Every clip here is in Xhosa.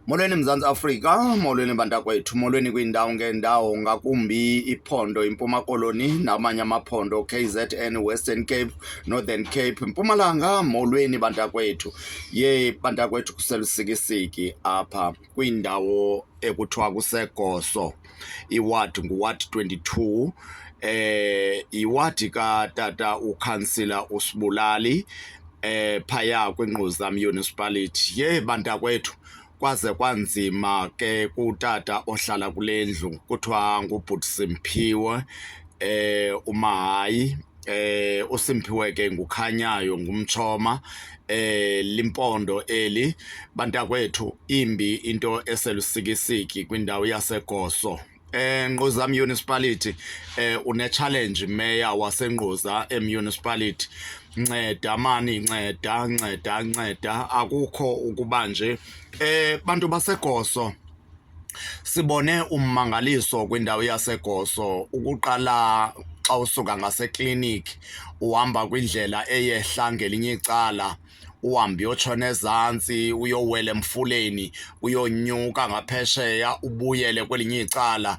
Molweni Mzantsi Afrika, molweni bantakwethu, molweni kwiindawo ngeendawo ngakumbi iphondo iMpuma Koloni namanye amaphondo KZN, Western Cape, Northern Cape, Mpumalanga, molweni bantakwethu. Ye bantakwethu kuselusikisiki apha kwiindawo ekuthiwa kuseGoso. iward nguward 22 eh iwadi katata ukhansila usibulali eh phaya kwinquzam municipality ye bantakwethu kwaze kwanzima ke kutata ohlala kule ndlu kuthiwa ngubhuti simphiwe eh umahayi eh uSimphiwe ke ngukhanyayo ngumchoma eh limpondo eli bantakwethu imbi into eselusikisiki kwindawo yaseGoso eh Ngquza Municipality eh une challenge mayor waseNgquza emunicipality nceda mani nceda nceda nceda akukho ukuba nje eh bantu baseGoso Sibone ummangaliso kwindawo yaseGoso ukuqala xa usuka ngasekliniki uhamba kwindlela eyehla ngelinye icala uhambe uyotshona ezantsi uyowela emfuleni uyonyuka ngaphesheya ubuyele kwelinye icala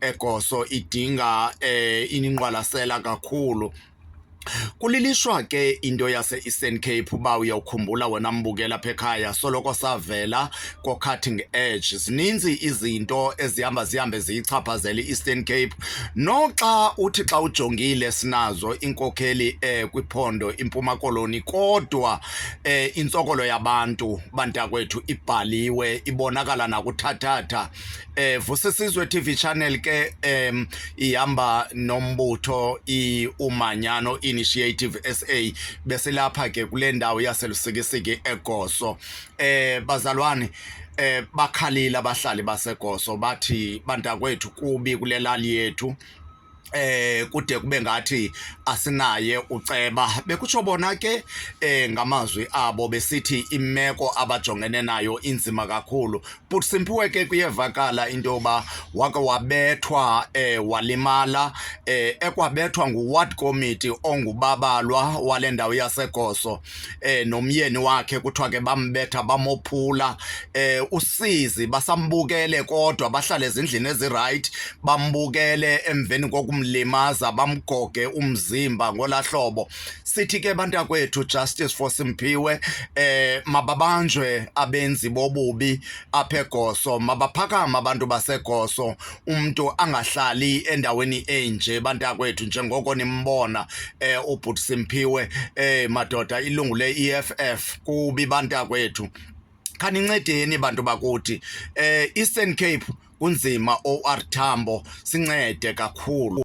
egoso idinga eh iningqwalasela kakhulu Kulilishwa ke into yase-Eastern Cape uba uyawukhumbula wena mbukela apha ekhaya soloko savela ko-cutting edge. Zininzi izinto ezihamba zihambe ziyichaphazela i-Eastern Cape. Noxa uthi xa ujongile sinazo iinkokheli eh kwiphondo iMpuma Koloni kodwa eh intsokolo yabantu bantakwethu ibhaliwe ibonakala nakuthathatha eh Vusisizwe TV channel ke em ihamba nombutho iumanyano initiative SA bese lapha ke kule ndawo yaselusikisiki eGoso eh bazalwane eh bakhalile abahlali baseGoso bathi bantakwethu kubi kulelali yethu eh kude kube ngathi asinaye uceba bekutsho bona ke eh ngamazwi abo besithi imeko abajongene nayo inzima kakhulu but simpiwe ke kuyevakala into yoba wake wabethwa eh walimala eh ekwabethwa nguward committee ongubabalwa wale ndawo yasegoso eh nomyeni wakhe kuthiwa ke bambetha bamophula eh usizi basambukele kodwa bahlale ezindlini eziright bambukele emveni kokumlimaza bamgoge umzimba ngolahlobo sithi ke bantakwethu justice for Simphiwe eh mababanjwe abenzi bobubi apha eGoso mabaphakama abantu baseGoso umntu angahlali endaweni enje bantakwethu njengoko nimbona eh ubhuti Simphiwe eh madoda ilungu le EFF kubi bantakwethu khanincedeni bantu bakuthi eh Eastern Cape kunzima OR Tambo sincede kakhulu